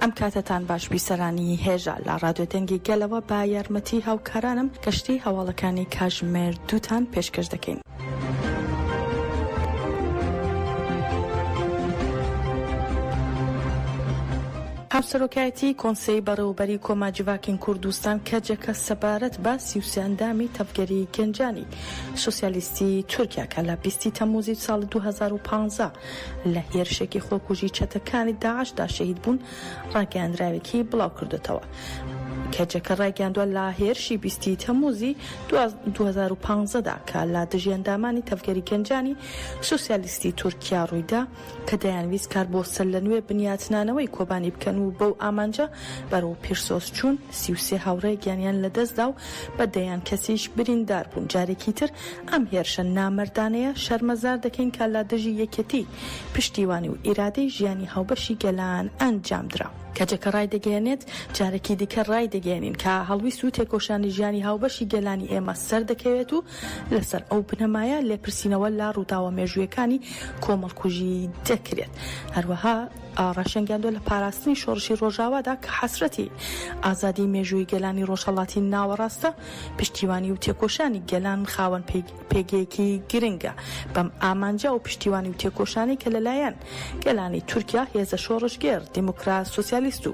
ئەم کاتەتان باش بی سەرانی هێژا لە ڕادیۆ دەنگی گەلەوە بە یارمەتی هاوکارانم گەشتەی هەواڵەکانی کاژمێر دووتان پێشکەش دەکەین. هاوسەرۆکایەتی کۆنسەی بەڕێوەبەری کۆما جڤاکین کوردستان کەجەکە سەبارەت بە سی و سێ ئەندامی تەڤگەری گەنجانی سۆسیالیستی تورکیا کە لە بیستی تەمووزی ساڵی دوو هەزار و پازدە لە هێرشێکی خۆکوژی چەتەکانی داعشدا شەهید بوون، ڕاگەیاندراوێکی بڵاوکردۆتەوە. کەجەکە ڕایگەیاندوە لە هێرشی بیستی تەموزی دوه هەزار و پازدە دا کە لە دژی ئەندامانی تەڤگەری گەنجانی سوسیالیستی تورکیا ڕوویدا کە دەیانویست کار بۆ سەرلەنوێ بنیاتنانەوەی کۆبانی بکەن و بەو ئامانجە بەرەو پیرسۆس چوون، سی و سێ هاوڕێ گیانیان لەدەستدا و بە دەیان کەسیش بریندار بوون، جارێکی تر ئەم هێرشە نامەردانەیە شەرمەزار دەکەین کە لە دژی یەکێتی، پشتیوانی و ئیرادەی ژیانی هاوبەشی گەلان ئەنجامدرا. کەجەکە ڕایدەگەیەنێت، جارێکی دیکە ڕایدەگەیەنین کە هەڵویست و تێکۆشانی ژیانی هاوبەشی گەلانی ئێمە سەردەکەوێت و لەسەر ئەو بنەمایە لێپرسینەوە لە ڕووداوە مێژوویەکانی کۆمەڵکوژی دەکرێت. هەروەها. ڕاشێنگیاندوە لە پاراستنی شۆڕشی ڕۆژاوادا کە حەسرەتی ئازادی مێژووی گەلانی ڕۆژهەڵاتی ناوەڕاستە، پشتیوانی و تێکۆشانی گەلان خاوەن پێگەیەکی گرنگە بەم ئامانجە، ئەو پشتیوانی و تێکۆشانەی کە لەلایەن گەلانی تورکیا، هێزە شۆڕشگێڕ، دیموکرات، سۆسیالیست و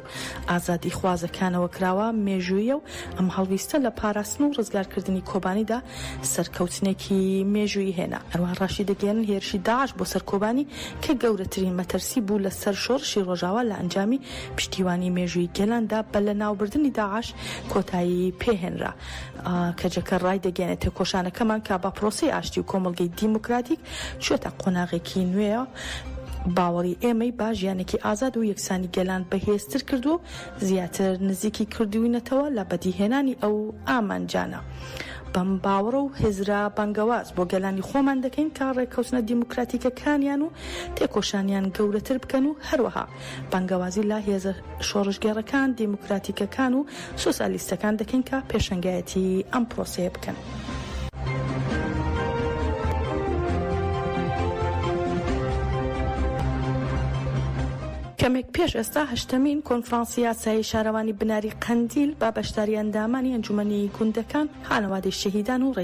ئازادیخوازەکانەوە کراوە مێژووییە و ئەم هەڵویستە لە پاراستن و ڕزگارکردنی کۆبانیدا سەرکەوتنێکی مێژوویی هێنا. هەروەها ڕاشیدەگەیەنن هێرشی داعش بۆ سەر کۆبانی کە گەورەترین مەترسی بوو لە سەر شۆڕشی ڕۆژاوا لە ئەنجامی پشتیوانی مێژوویی گەلاندا بە لەناوبردنی داعش کۆتایی پێهێنرا. کەجەکە ڕایدەگەیەنێت تێکۆشانەکەمان کە بە پرۆسەی ئاشتی و کۆمەڵگەی دیموکراتیک چووەتە قۆناغێکی نوێ باوەڕی ئێمەی با ژیانێکی ئازاد و یەکسانی گەلان بەهێزتر کردووە و زیاتر نزیکی کردووینەتەوە لە بەدیهێنانی ئەو ئامانجانە. بەم باوەڕە و هزرە بانگەواز بۆ گەلانی خۆمان دەکەین کە ڕێککەوتنە دیموکراتیکەکانیان و تێکۆشانیان گەورەتر بکەن و هەروەها بانگەوازی لە هێزە شۆڕشگێڕەکان دیموکراتیکەکان و سۆسیالیستەکان دەکەین کە پێشەنگایەتی ئەم پرۆسەیە بکەن. کەمێک پێش ئێستا هەشتەمین کۆنفرانسی یاسایی شارەوانی بناری قەندیل بە بەشداری ئەندامانی ئەنجومەنی گوندەکان، خانەوادەی شەهیدان و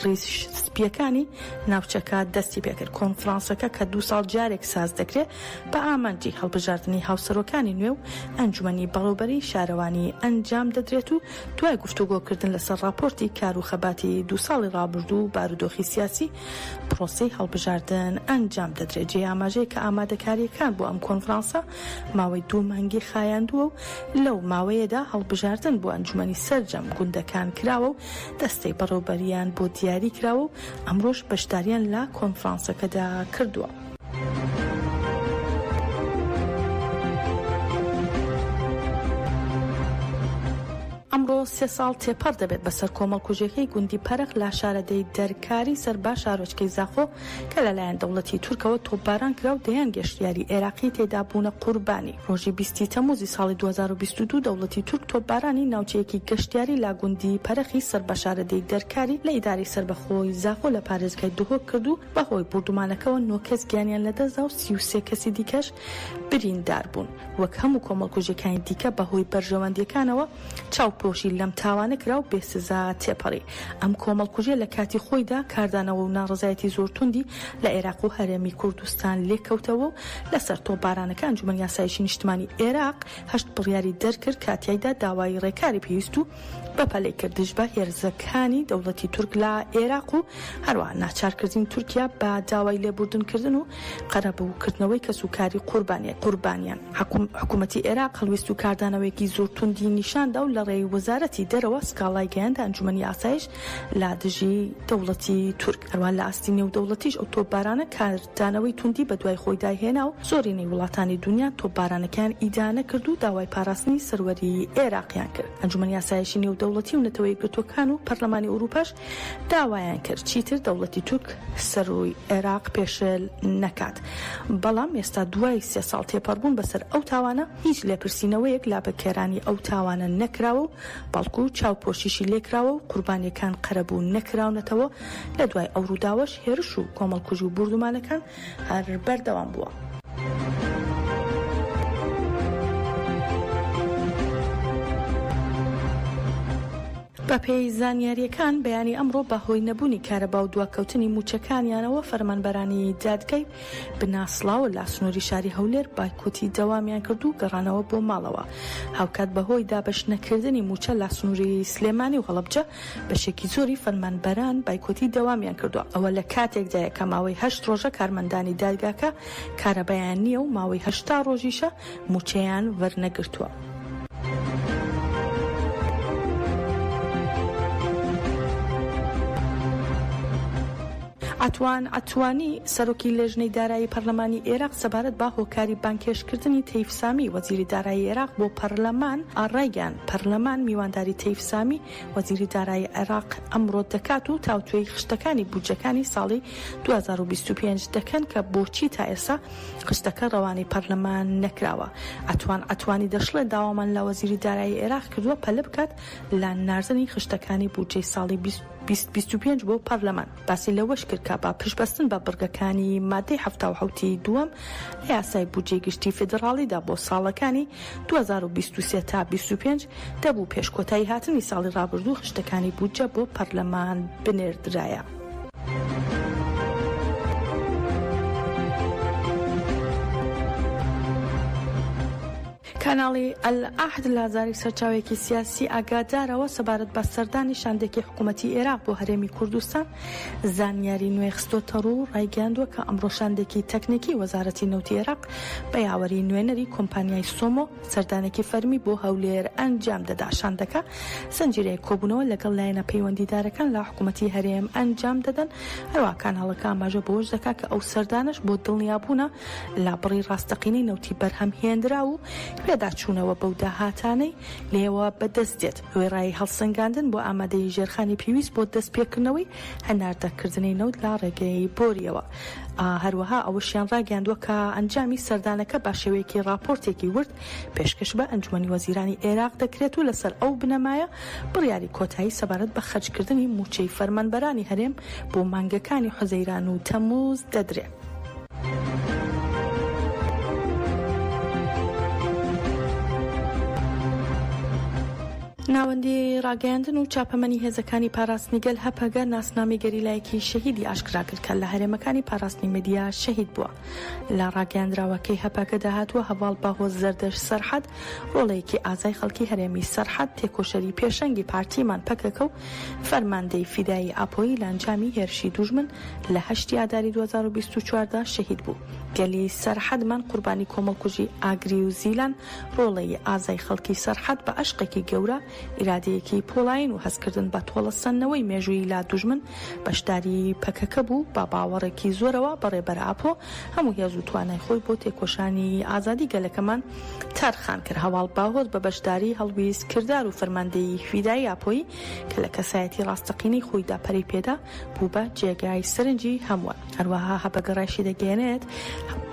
ریش سپییەکانی ناوچەکە دەستی پێکرد، کۆنفرانسەکە کە دوو ساڵ جارێک ساز دەکرێت بە ئامانجی هەڵبژاردنی هاوسەرۆکانی نوێ و ئەنجومەنی بەڕێوبەری شارەوانی ئەنجام دەدرێت و دوای گفتوگۆکردن لەسەر راپۆرتی کارو خەباتی دوو ساڵی رابردوو و بارودۆخی سیاسی پرۆسەی هەڵبژاردن ئەنجام دەدرێت، جێی ئاماژەیە کە ئامادەکارییەکان بۆ ئەم کۆنفرانسە ماوەی دوو مانگی خایاندووە و لەو ماوەیەدا هەڵبژاردن بۆ ئەنجومەنی سەرجەم گوندەکان کراوە و دەستەی بەڕێوبەرییان بۆ دیاریکراوە و ئەمڕۆش بەشدارییان لە کۆنفرانسەکەدا کردووە. ئەمڕۆ سێ ساڵ تێپەڕ دەبێت بەسەر کۆمەڵکوژیەکەی گوندی پەرخ لا شارەدێی دەرکاری سەر با شارۆچکەی زاخۆ کە لەلایەن دەوڵەتی تورکەوە تۆپباران کرا و دەیان گەشتیاری عێراقی تێدا بوونە قوربانی ڕۆژی بیستی تەموزی ساڵی 2022 دەوڵەتی تورک تۆپبارانی ناوچەیەکی گەشتیاری لا گوندی پەرخی سەر بە شارەدێی دەرکاری لە ئیدارەی سەربەخۆی زاخۆ لە پارێزگای دهۆک کرد و بەهۆی بوردومانەکەوە نۆ کەس گیانیان لەدەستدا و سی و سێ کەسی دیکەش بریندار بوون. وەک هەموو کۆمەڵکوژیەکانی دیکە بەهۆی بەرژەوەندیەکانەوە چاوپۆشی لەم تاوانە کرا و بێ سزا تێپەڕی. ئەم کۆمەڵکوژیە لە کاتی خۆیدا کاردانەوە و ناڕەزایەتی زۆر توندی لە عێراق و هەرێمی کوردستان لێکەوتەوە و لەسەر تۆپبارانەکە ئەنجومەن یاسایشی نیشتمانی عێراق هەشت بڕیاری دەرکرد کە تیایدا داوای رێکاری پێویست و بەپەلەی کردیش بە هێرزەکانی دەوڵەتی تورک لە ئێراق و هەروەها ناچارکردنی تورکیا بە داوای لێبوردنکردن و قەرەبووکردنەوەی کەسوکاری قوربانی قوربانیان حکومەتی ئێراق هەڵویست و کاردانەوەیەکی زۆر توندی نیشاندا و لە ڕێی وەزارەتی دەرەوە سکاڵای گەیاندە ئەنجومەنی ئاسایش لە دژی دەوڵەتی تورک هەروان لە ئاستی نێودەوڵەتیش ئەو تۆپبارانە کاردانەوەی توندی بە دوای خۆیدا هێنا و زۆرینەی وڵاتانی دنیا تۆپبارانەکەیان ئیدانە کرد و داوای پاراستنی سەروەری ئێراقیان کرد ئەنجومەن یاسایشی نێودەوڵەتی و نەتەوە یەکگرتووەکان و پەرلەمانی ئوروپاش داوایان کرد چیتر دەوڵەتی تورک سەروی ئێراق پێشێل نەکات بەڵام ئێستا دوای سێ ساڵ تێپەڕبوون بەسەر ئەو تاوانە هیچ لێپرسینەوەیەک لابەکێرانی ئەو تاوانە نەکراوە و بەڵکو چاوپۆشیشی لێکراوە و قوربانیەکان قەرەبوو نەکراونەتەوە، لە دوای ئەو ڕووداوەش هێرش و کۆمەڵکوژی و بوردومانەکان هەر بەردەوام بووە. بەپێی زانیارییەکان بەیانی ئەمڕۆ بەهۆی نەبوونی کارەبا و دواکەوتنی مووچەکانیانەوە فەرمانبەرانی دادگای بناسڵاوە لە سنوری شاری هەولێر بایکۆتی دەوامیان کرد و گەڕانەوە بۆ ماڵەوە هاوکات بەهۆی دابەش نەکردنی مووچە لە سنوری سلێمانی و هەڵەبجە بەشێکی زۆری فەرمانبەران بایکۆتی دەوامیان کردووە ئەوە لە کاتێکدایە کە ماوەی هەشت ڕۆژە کارمەندانی دادگاکە کارەبایان نییە و ماوەی هەشتا ڕۆژیشە موچەیان وەرنەگرتووە. عەتوان عەتوانی، سەرۆکی لێژنەی دارایی پەرلەمانی ئێراق سەبارەت بە هۆکاری بانگهێشتکردنی تەیف سامی، وەزیری دارایی عێراق بۆ پەرلەمان ڕایگەیاند، پەرلەمان میوانداری تەیف سامی، وەزیری دارایی عێراق ئەمڕۆ دەکات و تاوتوێی خشتەکانی بودجەکانی ساڵی دوو هەزار و بیست و پێنج دەکەن کە بۆچی تا ئێستا خشتەکە رەوانەی پەرلەمان نەکراوە. عەتوان عەتوانی دەشڵێت، داوامان لە وەزیری دارایی عێراق کردووە پەلە بکات لە ناردنی خشتەکانی بودجەی ساڵی بیست بیست بیست و پێنج بۆ پەرلەمان. باسی لەوەش کرد کە بە پشتبەستن بە بڕگەکانی ماددەی حەفتا و حەوت ی دووەم لە یاسای بودجەی گشتی فیدڕاڵیدا بۆ ساڵەکانی دوو هەزار و بیست و سێ تا بیست و پێنج دەبوو پێش کۆتاییهاتنی ساڵی رابردوو خشتەکانی بودجە بۆ پەرلەمان بنێردرایە. کاناڵی ئەلعەهد لە زاری سەرچاوێکی سیاسی ئاگادارەوە سەبارەت بە سەردانی شاندێکی حکوومەتی ئێراق بۆ هەرێمی کوردستان زانیاری نوێ خستۆتە ڕوو ڕایگەاندووە کە ئەمڕۆ شاندێکی تەکنیکی وەزارەتی نەوتی عێراق بە یاوەری نوێنەری کۆمپانیای سۆمۆ سەردانێکی فەرمی بۆ هەولێر ئەنجام دەدا شاندەکە زنجیرەیە کۆبوونەوە لەگەڵ لایەنە پەیوەندیدارەکان لە حکوومەتی هەرێم ئەنجام دەدەن هەروە کاناڵەکە ئاماژە بەوەش دەکا کە ئەو سەردانەش بۆ دڵنیابوونە لە بڕی ڕاستەقینەی نەوتی بەرهەم هێنرا و پێداچوونەوە بەو داهاتانەی لێوە بەدەست دێت وێڕای هەڵسەنگاندن بۆ ئامادەیی ژێرخانی پێویست بۆ دەستپێکردنەوەی هەناردەکردنی نەوت لە ڕێگەی بۆرییەوە. هەروەها ئەوەشیان ڕاگەیاندووە کە ئەنجامی سەردانەکە بە شێوەیەکی ڕاپۆرتێکی ورد پێشکەش بە ئەنجومی وەزیرانی عێراق دەکرێت و لەسەر ئەو بنەمایە بڕیاری کۆتایی سەبارەت بە خەرجکردنی مووچەی فەرمانبەرانی هەرێم بۆ مانگەکانی حوزەیران و تەموز دەدرێت. ناوەندی ڕاگەیاندن و چاپەمەنی هێزەکانی پاراستنی گەل، هەپەگە، ناسنامەی گەریلایەکی شەهیدی ئاشکرا کرد کە لە هەرێمەکانی پاراستنی مەدیا شەهید بووە. لە ڕاگەیاندراوەکەی هەپەگەدا هاتووە، هەڤاڵ باهۆز زەردەشت سەرحەد، ڕۆڵەیەکی ئازای خەڵکی هەرێمی سەرحەد، تێکۆشەری پێشەنگی پارتیمان پەکەکە و فەرماندەی فیدایی ئاپۆیی لە ئەنجامی هێرشی دوژمن لە هەشتی ئاداری دوو هەزار و بیست و چوار دا شەهید بوو. گەلی سەرحەدمان قوربانی کۆمەڵکوژی ئاگری و زیلان ڕۆڵەی ئازای خەڵکی سەرحەد بە ئەشقێکی گەورە، ئیرادەیەکی پۆڵایین و هەستکردن بە تۆڵەسەندنەوەی مێژوویی لا دوژمن بەشداریی پەکەکە بوو، بە باوەڕێکی زۆرەوە بە ڕێبەر ئاپۆ هەموو هێز و توانای خۆی بۆ تێکۆشانی ئازادی گەلەکەمان تەرخان کرد. هەڤاڵ باهۆز بە بەشداریی هەڵویست کردار و فەرماندەیی فیدایی ئاپۆیی کە لە کەسایەتی ڕاستەقینەی خۆیدا پەرەی پێدا، بووبە جێگای سەرنجی هەمووان. هەروەها هەپەگە ڕاشیدەگەیەنێت،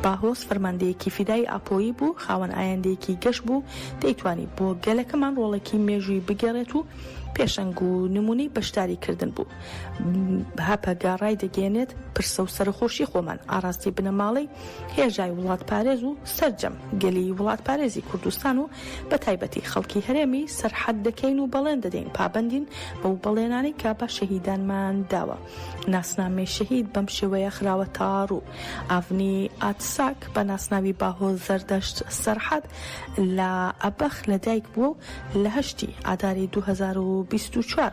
باهۆز فەرماندەیەکی فیدایی ئاپۆیی بوو، خاوەن ئایندەیەکی گەش بوو، دەیتوانی بۆ گەلەکەمان ڕۆڵێکی مێژووی بگێڕێت و پێشەنگ و نموونەی بەشداری کردن بوو. هەپەگە ڕایدەگەیەنێت، پرسە و سەرەخۆشی خۆمان، ئاڕاستەی بنەماڵەی، هێژای وڵاتپارێز و سەرجەم گەلی وڵاتپارێزی کوردستان و بە تایبەتی خەڵکی هەرێمی سەرحەد دەکەین و بەڵێن دەدەین پابەندین بەو بەڵێنانەی کە بە شەهیدانمان داوە ناسنامەی شەهید بەم شێوەیە خراوە تاڕوو ئاڤنی ئاتساک بە ناسناوی باهۆ زەردەشت سەرحەد لە ئەبەخ لە دایک بووە و لە هەشتی ئاداری 2024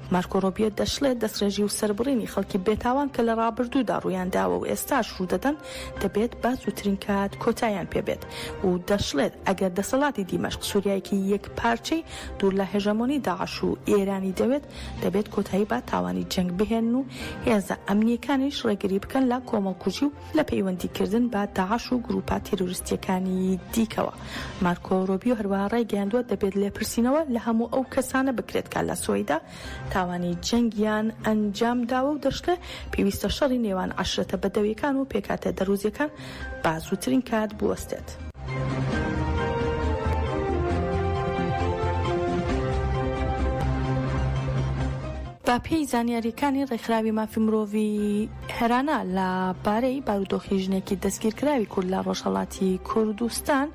مارکۆ ڕۆبیۆ دەشڵێت، دەستڕێژی و سەربڕینی خەڵکی بێتاوان کە لە ڕابردوودا ڕوویانداوە و ئێستاش ڕوودەدەن، دەبێت بە زووترین کات کۆتاییان پێبێت و دەشڵێت، ئەگەر دەسەڵاتی دیمەشق سووریایەکی یەکپارچەی دوور لە هێژەمۆنی داعش و ئێرانی دەوێت، دەبێت کۆتایی بە تاوانی جەنگ بهێنن و هێزە ئەمنییەکانیش ڕێگری بکەن لە کۆمەڵکوژی و لە پەیوەندی کردن بە داعش و گرووپە تێرۆریستییەکانی دیکەوە. مارکۆ رۆبیۆ هەروەها رایگەیاندووە، دەبێت لێپرسینەوە لە هەموو ئەو کەسانە بکرێت کە لە سوەیدا تاوانی جەنگیان ئەنجام داوە و دەشڵێ، پێویستە شەڕی نێوان عەشرەتە بەدەوییەکان و پێکهاتە دەرووزییەکان بە زووترین کات بوەستێت. بە پێی زانیارییەکانی رێکخراوی مافی مرۆڤی، هێرانە لە بارەی بارودۆخی ژنێکی دەستگیرکراوی کورد لە ڕۆژهەڵاتی کوردستان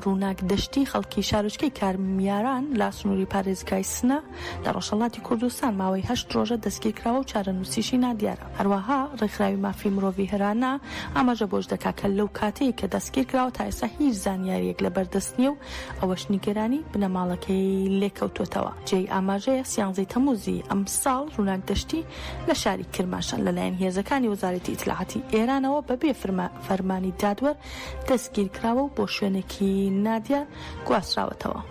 ڕووناک دەشتی خەڵکی شارۆچکەی کارمیاران لە سنووری پارێزگای سنە لە ڕۆژهەڵاتی کوردستان ماوەی هەشت ڕۆژە دەستگیرکراوە و چارەنووسیشی نادیارە هەروەها ڕێکخراوی مافی مرۆڤی هێرانە ئاماژە بۆش دەکات کە لەو کاتەی کە دەستگیرکراوە تا ئێستا هیچ زانیارییەک لەبەردەست نییە و ئەوەش نیگەرانی بنەماڵەکەی لێکەوتووەتەوە جێی ئاماژەیە سیانزەی تەمووزی ئەمساڵ ڕووناک دەشتی لە شاری کرماشان لەلایەن هێزەکانی وەزارەتی ئیتلاعاتی ئێرانەوە بەبێ فەرمانی دادوەر دەستگیرکراوە و بۆ شوێنێکی نادیار گواستراوەتەوە.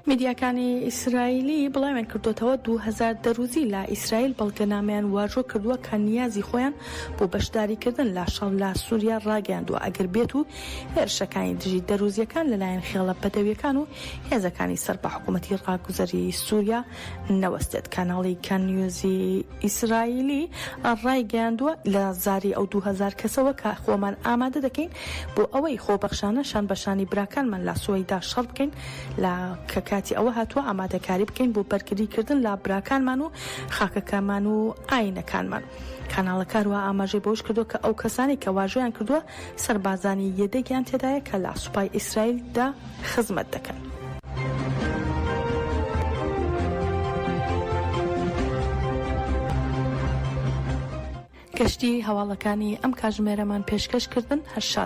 میدیاکانی ئیسرائیلی بڵاویان کردووەتەوە، دوو هەزار دەرووزی لە ئیسرائیل بەڵگەنامەیان واژۆ کردووە کە نیازی خۆیان بۆ بەشداریکردن لە شەڕ لە سووریا ڕاگەیاندووە ئەگەر بێت و هێرشەکانی دژی دەرووزییەکان لەلایەن خێڵە بەدەوییەکان و هێزەکانی سەر بە حکوومەتی ڕاگوزەری سووریا نەوەستێت. کاناڵی کان نیوزی ئیسرائیلی ڕایگەیاندووە، لە زاری ئەو دوو هەزار کەسەوە کە خۆمان ئامادە دەکەین بۆ ئەوەی خۆبەخشانە شان بە شانی براکانمان لە سوەیدا شەڕ بکەین لە کە کاتی ئەوە هاتووە ئامادەکاری بکەین بۆ بەرگریکردن لە براکانمان و خاکەکەمان و ئایینەکانمان. کاناڵەکە هەروەها ئاماژەی بەوەش کردووە کە ئەو کەسانەی کە واژۆیان کردووە سەربازانی یەدەگیان تێدایە کە لە سوپای ئیسرائیل دا خزمەت دەکەن. گشتی هەواڵەکانی ئەم کاتژمێرەمان پێشکەش کردن. هەر شاد بن.